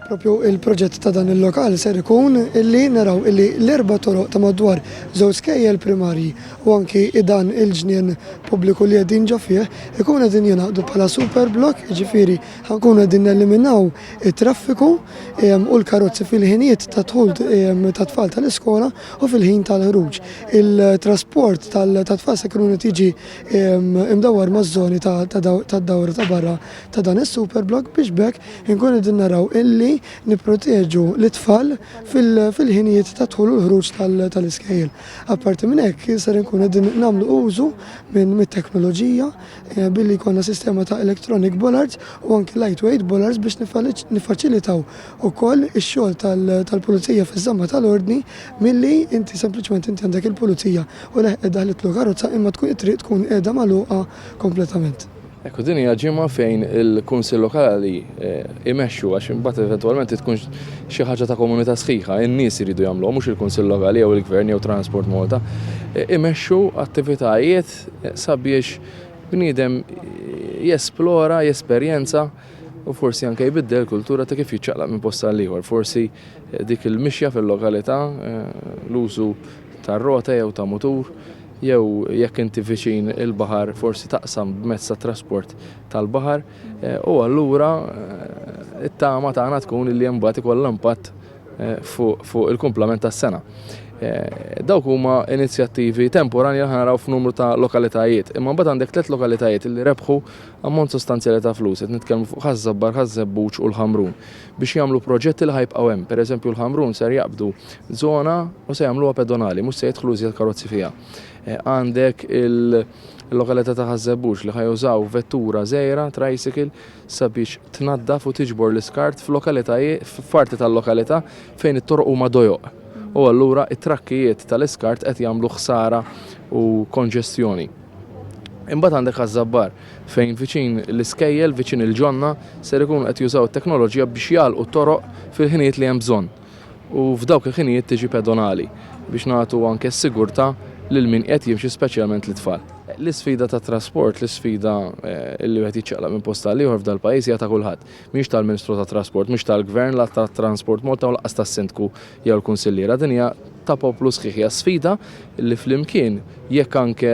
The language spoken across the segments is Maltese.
Propju il-proġett ta' dan il-lokal ser ikun illi naraw illi l-erba' toroq ta' madwar żewġ skejjel primarji u anki dan il-ġnien pubbliku li qegħdin ġo fih ikun qegħdin jingħaqdu bħala super blok, jiġifieri ħankun qegħdin neliminaw it-traffiku ehm, u l-karozzi fil-ħinijiet ta' dħul ehm, ta' tfal tal-iskola u fil-ħin tal-ħruġ. Il-trasport tal-tfal se jkun tiġi imdawwar maż-żoni tad-dawra ta' barra ta' dan is-superblok biex b'hekk inkunu qegħdin naraw illi nipproteġu lit-tfal fil-ħinijiet tad-dħul u l-ħruġ tal-iskejjel. Apparti minn hekk ser inkunu qegħdin nagħmlu użu mit-teknoloġija billi jkollna sistema ta' electronic bollards u anki lightweight bollards biex niffaċilitaw ukoll ix-xogħol tal-pulizija fiż-żamma tal-ordni milli inti sempliċement inti għandek il-pulizija u leħqet daħlitlu karozza imma tkun it-triq tkun qiegħda magħluqa kompletament. Hekk u din hija ġimgħa fejn il-Kunsill Lokali imexxu għax imbagħad eventwalment tkun xi ħaġa ta' komunità sħiħa, in-nies iridu jagħmluha mhux il-Kunsill Lokali jew il-Gvern jew Transport Malta, imexxu attivitajiet sabiex bniedem jesplora, jesperjenza. u forsi anke jbiddel il-kultura ta' kif jiċċaqlaq minn post għal ieħor. Forsi dik il-mixja fil-lokalità, l-użu ta' rota jew ta' mutur, jew jekk inti viċin il-baħar forsi taqsam b'mezz ta' trasport tal-baħar, u allura t-tama tagħna tkun illi mbagħad ikollha impatt fuq il-kumplament tas-sena. Dawk huma inizjattivi temporanja li ħa naraw f'numru ta' lokalitajiet, imma mbagħad għandek tliet lokalitajiet illi rebħu Ammont sostanzjali ta' flus, qed nitkellmu fuq Ħaż-Żabbar, Ħaż-Żebbuġ u l-Ħamrun, biex jagħmlu proġetti li ħa jibqgħu hemm. Per eżempju l-Ħamrun ser jaqbdu żona u se jagħmluha pedonali, mhux se jidħlu iżjed karozzi fiha. Għandek il-lokalità ta' Ħaż-Żebbuġ li ħa jużaw vettura żgħira, tricycle, sabiex tnaddaf u tiġbor l-iskart f'lokalitajiet, f'parti tal-lokalità fejn it-toroq huma dojoq. U allura t-trakkijiet tal-iskart qed jagħmlu ħsara u konġestjoni. Imbagħad għandek Ħaż-Żabbar, fejn viċin l-iskejjel, viċin il-ġonna, ser ikunu qed jużaw it-teknoloġija biex jagħlqu t-toroq fil-ħinijiet li hemm bżonn. U f'dawk il-ħinijiet tiġi pedonali, biex nagħtu anke s-sigurtà lil min qiegħed jimxi speċjalment lit-tfal. L-isfida tat-trasport, l-isfida li wieħed jiċċaqlaq minn post għal ieħor f'dal-pajjiż hija ta' kulħadd. Mhix tal-Ministru tat-Trasport, mhux tal-Gvern, la tat-Transport Malta u lanqas tas-Sindku jew l-Kunsilliera, din hija ta' poplu sħiħ, hija sfida li flimkien jekk anke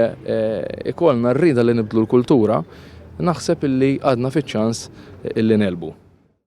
ikollna r-rieda li nibdlu l-kultura, naħseb illi għadna fiċ-ċans illi negħlbu.